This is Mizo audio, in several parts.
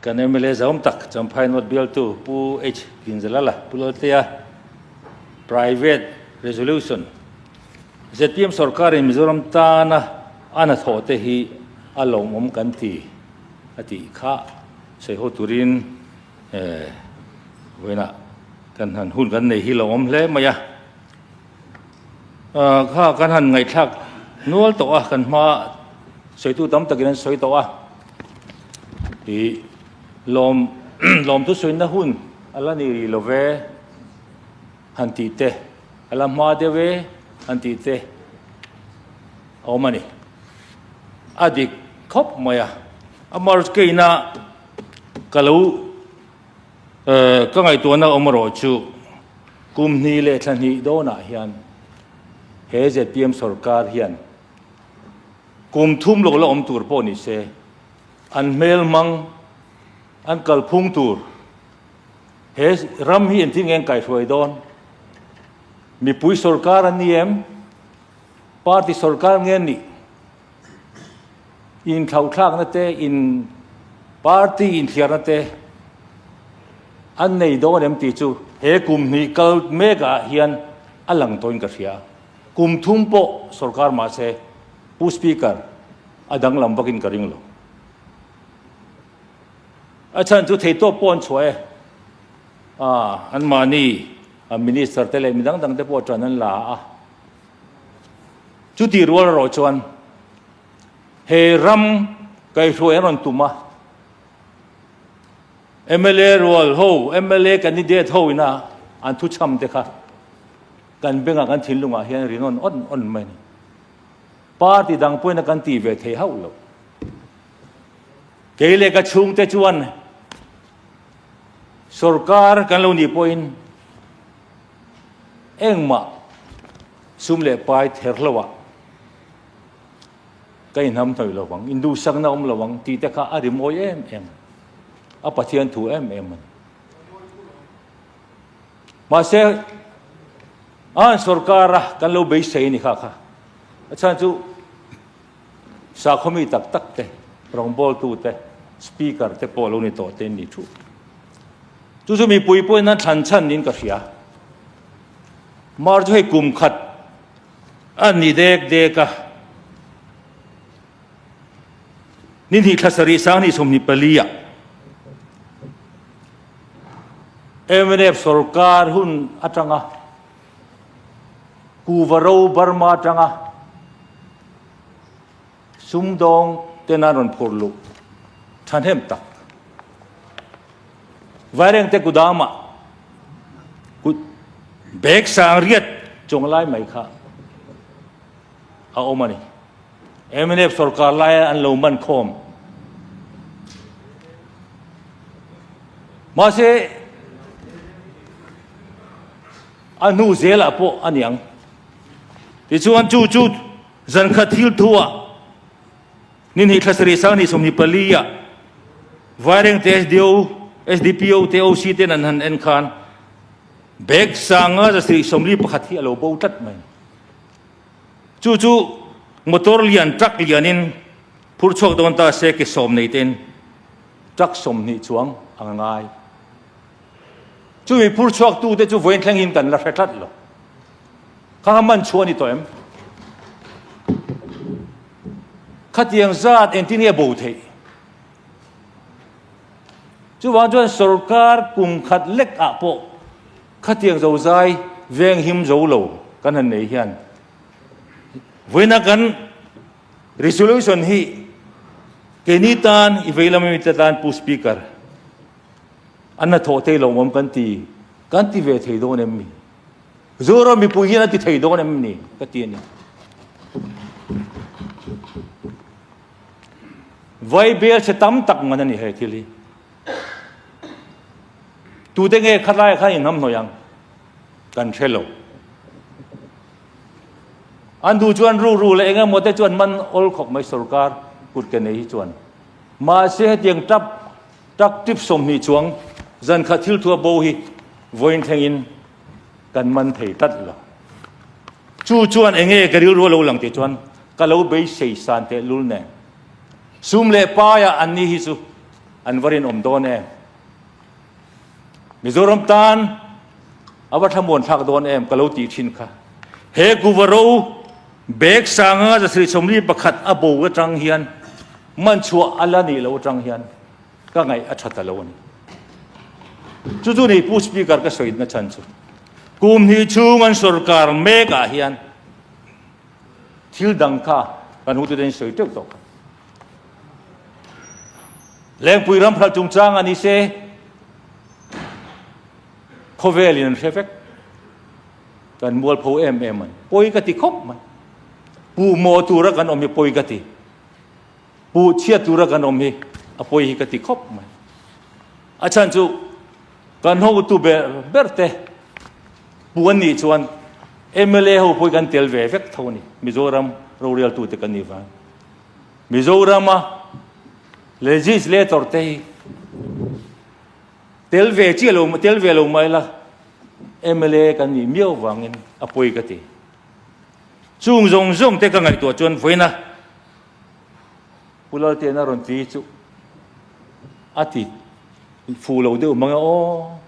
Kan mla zawm tak Champhainawt bialtu Pu H Kinzalala Pu Lalteia Private Resolution zpm sawrkarin Mizoram tana a hnathawh te hi a lawmawm kan ti a tih kha sawi ho turin vawiinah kan han hun kan nei hi lawmawm hle mai a. kha kan han ngaihthlak nual tawh a, kan hma sawitu tam takin an sawi tawh a, lawm lawm thu sawi na hun a la ni rih love han tih te, a la hma deuh e han tih te a awm a ni. A dik khawp mai a, a march keina ka lo. Ka ngaihtuahna awm erawh chu, kum hni leh thla hnih dawnah hian he zpm sawrkar hian kum thum lo la awm tur pawh nise, an hmel hmang, an kalphung tur, he ram hi engtin nge an kaihhruai dawn? Mipui sawrkar a ni em? Party sawrkar nge an nih? in thlauhthlakna te in party in thliarna te an nei dawn em ti chu he kum hni kal mek ah hian a lang tawin ka hria kum thum pawh sorkar mah se pu speaker a danglam vakin ka ring lo a chan chu thei tawp pawh an chhuah e a an mahni minister te leh midang dang te pawh tan an la a Chu tih rual erawh chuan he ram kai hluai an rawn tum a, mla rual ho, mla candidate ho ina an thu chham te kha kan bengah kan thinlungah hian rinawm awn awn mai a ni. Party dang pawhin kan tih ve thei hauh lo. Kei leh ka chhungte chuan sorkar kan lo nih pawhin, Engmah sum leh pai ther hlauhah ka inham hnawih lo vang, induhsakna awm lo vang tih te kha a rimawi em em a, a Pathian thu em em a ni. Mahse, an sorkara kan lo beisei a ni kha kha, a chhan chu Sakhaw mi tak tak te, rawngbawltu te, speaker te pawh lo ni tawh te an ni thup. Chu chu mipui pawhin an thlan chhan niin ka hria. Mar chu hei kum khat a ni dek dek a. Ni hnih thla sarih sang hnih sawmhnih pali ah MNF sawrkar hun atanga Kuvaro Burma tanga Sumdawng ten an rawn phur luh thahnem tak. Vaireng te kudama kut bag sang riat chawng lai mai kha a awm a ni. Mnf sorkar laia an lo man khawm. Mahse, a hnu zel ah pawh a niang. Tichuan chu chu zan khat thil thu ah ni hnih thla sarih sang ni sawm ni pali ah Vaireng te SDO, SDPO te OC te an han en khan bag sanga zasarih sawmli pakhat hi a lo bo tlat mai. Chu chu motor lian truck lianin phur chhuak dawn ta se ke sawm nei te'n truck sawmhnih chuang a nga ngai. Chumi phur chhuak tu te chu vawiin thleng in kan la hre tlat lo. Kha kha man chhuah a ni tawh em? Khatiang zat engtin nge bo theih? Chuvang chuan sorkar kum khat lek ah pawh Khatiang zozai veng him zo lo kan han nei hian vawiina kan resolution hi keini tan i vei lama mite tan Pu Speaker an hnathawh thei lo mam kan ti kan ti ve thei dawn em ni? Zu ro mipui hian an ti thei dawn em ni ka ti a ni. Vai bel che tam tak ngan a ni hei thil hi. Tute nge khatlaia khan inham hnawih ang? Kan hre lo. An du chuan ru ru leh enge mawte chuan man awl khawp mai sorkar kut ke nei hi chuan. Mahse hetiang tap tak tip sawmhnih chuang zan khat thil thua bo hi vawiin thlengin kan man thei tlat lo. Chu chuan enge ka rilru alo lang tih chuan ka lo beisei san tehlul nen. Sum leh paia an ni hi chu An var in awm dawn em? Mizoram tan a va thlamuan thlak dawn em? Ka lo tih thin kha. He Kuvaro bag sanga zasri chawmli pakhat a bo atang hian man chhuah a la nih loh atang hian ka ngaih a tha ta lo a ni. Chu chu nei pu speaker ka sawi na chhan chu. Kum hnih chhung an sorkar mek ah hian thil dang kha kan hu te ten sawi teuh tawh kha. Lengpui ram hral chungchang a ni se, khawvelin an hre vek. Kan mualpho em em an. Pawi ka ti khawp mai. Pu maw tura kan awm hi pawi ka ti. Pu chhiat tura kan awm hi a pawi hi ka ti khawp mai. A chan chu kan ho tu ber ber te pu an nih chuan MLA ho pawi kan tel ve vek tho ni. Mizoram rorial tu te kan ni vang. Mizorama legislator te hi tel ve chi lo tel ve lo mai la MLA kan ni miau wangin a poi ka ti chung zong zong te ka ngai tu chuan voina pulal te na ron ti chu ati fu lo deuh manga o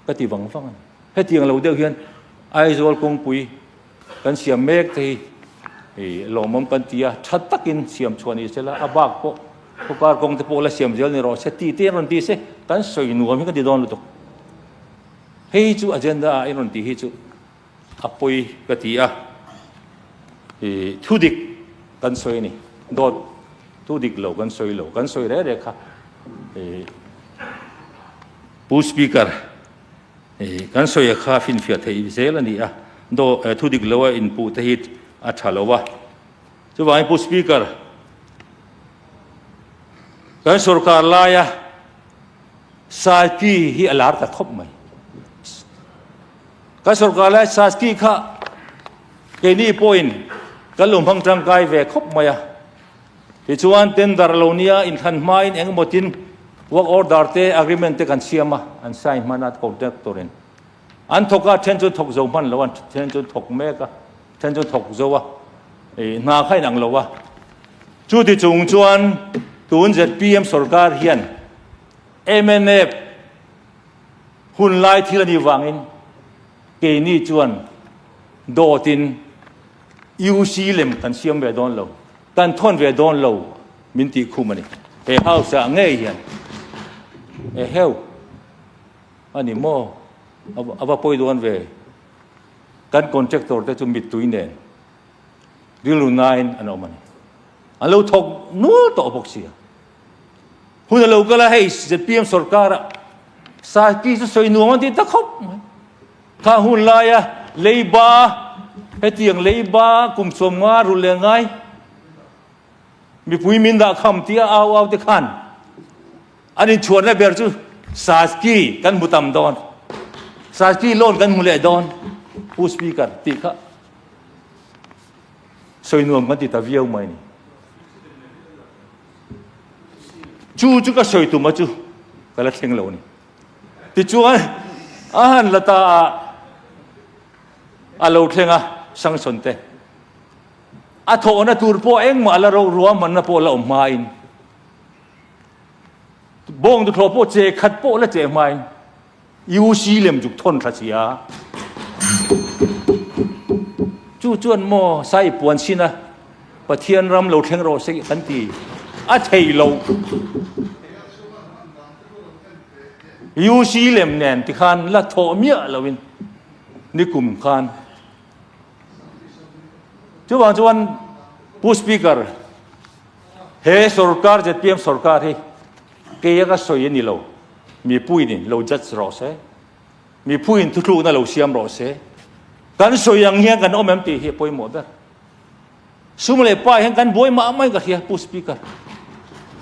ka ti vang vang hetiang lo deuh hian Aizawl kawngpui Kan siam mek te hi i lawmawm kan ti a, that takin siam chhuah ni se la, a bak pawh khawkar kawng te pawh la siam zel ni rawh se, ti te i rawn ti se, kan sawi nuam hi ka ti dawn lutuk. Hei hi chu agenda a i rawn tih hi chu a pawi ka ti a, i thu dik kan sawi a ni, dawt thu dik lo kan sawi lo, kan sawi reh reh kha i Pu Speaker Kan sawia kha a finfiah theih zel a ni a, dawh eh, thudik loa inpuh te hi a tha lo a. Chuvangin Pu Speaker, kan sorkar laia sazki hi a lar ta thawp mai. Kan sorkar laia sazki kha keini pawhin kan lo hmang tangkai ve khawp mai a. Tichuan, tender lo nia inthlan hmain engemaw tin work order te agreement te kan siam a, an sign hman a contractor in. An thawk a, then chu thawk zo hman lo a, then chu thawk mek a, then chu thawk zo a, ih hna kha in ang lo a. Chuti chung chuan tun zpm sawrkar hian MNF hun lai thil a nih vangin keini chuan dawt in, UC lem kan siam ve dawn lo, kan thawn ve dawn lo min tih khum a ni. He House-a ngei hian e heu a ni maw a va pawi dawn ve. Kan contractor te chu mittui nen rilru nain an awm a ni. An lo thawk nual tawh bawk sia. Hun a lo kal a hei ZPM sorkara saipi chu sawi nuam an tih ta khawp mai. Kha hun lai a, leiba, hetiang leiba kum sawmnga rul leh ngai mipui min dah kham tia au au te khan an inchhuahna ber chu Saski kan hmu tam dawn, Saski lawn kan hmu leh dawn Pu Speaker tih kha sawi nuam kan ti ta viau mai ni. Chu chu ka sawi tum a chu ka la thleng lo ni. Tichuan, a han la ta a, a lo thleng a, Samsonte. A thawhna tur pawh engmah la rauh, ruahmanna pawh la awm hmain, bawng duhthlawh pawh che khat pawh la che hmain, i u si lem zuk thawn thla si a. Chu chuan maw sa i puan sin a, Pathian ram lo thleng rawh seh kan ti a thei lo. UC lem nen ti khan la thawh miah lo in ni kum khan chuwang chuan pu speaker he sorkar zpm sorkar hi ke aka soi ani lo mi puin in lo judge ro se mi phuin thu thlu na lo siam ro se kan soi ang hian kan om em ti hi poimo ber Sum leh pa hian kan buai mah mai ka hria pu speaker.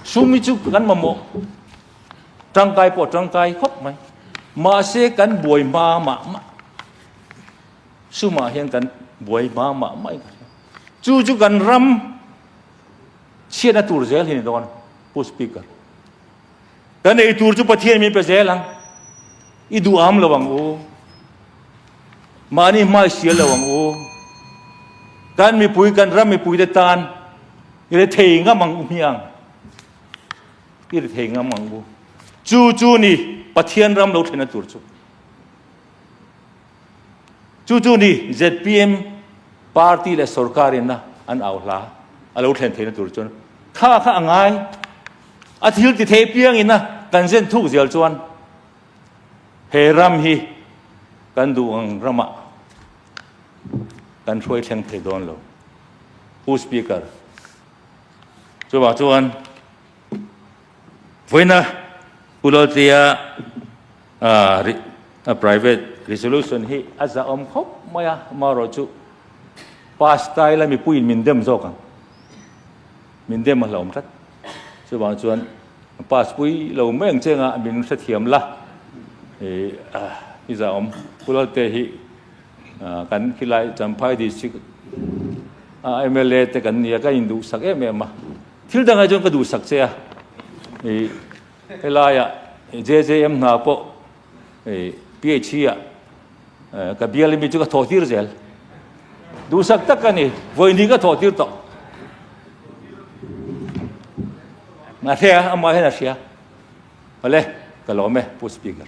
Sum mi chu kan ma mo. Trang kai po trang kai khop mai. Ma se kan buai ma ma ma. Suma hian kan buai ma ma mai ka hria. Chu chu kan ram chiat na tur zel hin don pu speaker. Ka nei tur chu Pathian min pe zel ang. I duh am lo ang u. Mahni hmai sial lo ang u. Kan mipui, kan ram mipui te tan i re thei ngam ang u mi ang. I re thei ngam ang u. Chu chu ni Pathian ram lo thlen a tur chu. Chu chu ni zpm party leh sorkar in a an au hla a lo thlen theihna tur chuan tha kha a ngai a thil ti thei piang in a kan zen thuk zial chuan he ram hi kan duh ang ram ah kan hruai thleng thei dawn lo hu speaker chu vah chuan Vawiina U Laltlia a private resolution hi a zahawm khawp mai a, amaherawh chu pasta ila mipuiin min dem zawk ang, min dem a hlawm tlat. Chuvang chuan pass pui lo mai ang cheng a min hrethiam la. I zahawm U Lalte hi kan khilai Champhai district a mla te kan nia ka induhsak em em a. Thil dangah chuan ka duhsak che a, i helaia JJM hna pawh i PHE ah ka bial ami chu ka thawh tir zel. Duhsak tak a ni, vawini ka thawh tir tawh. A hre a, amah hian a hria. Awle, ka lawm e, Pu Speaker.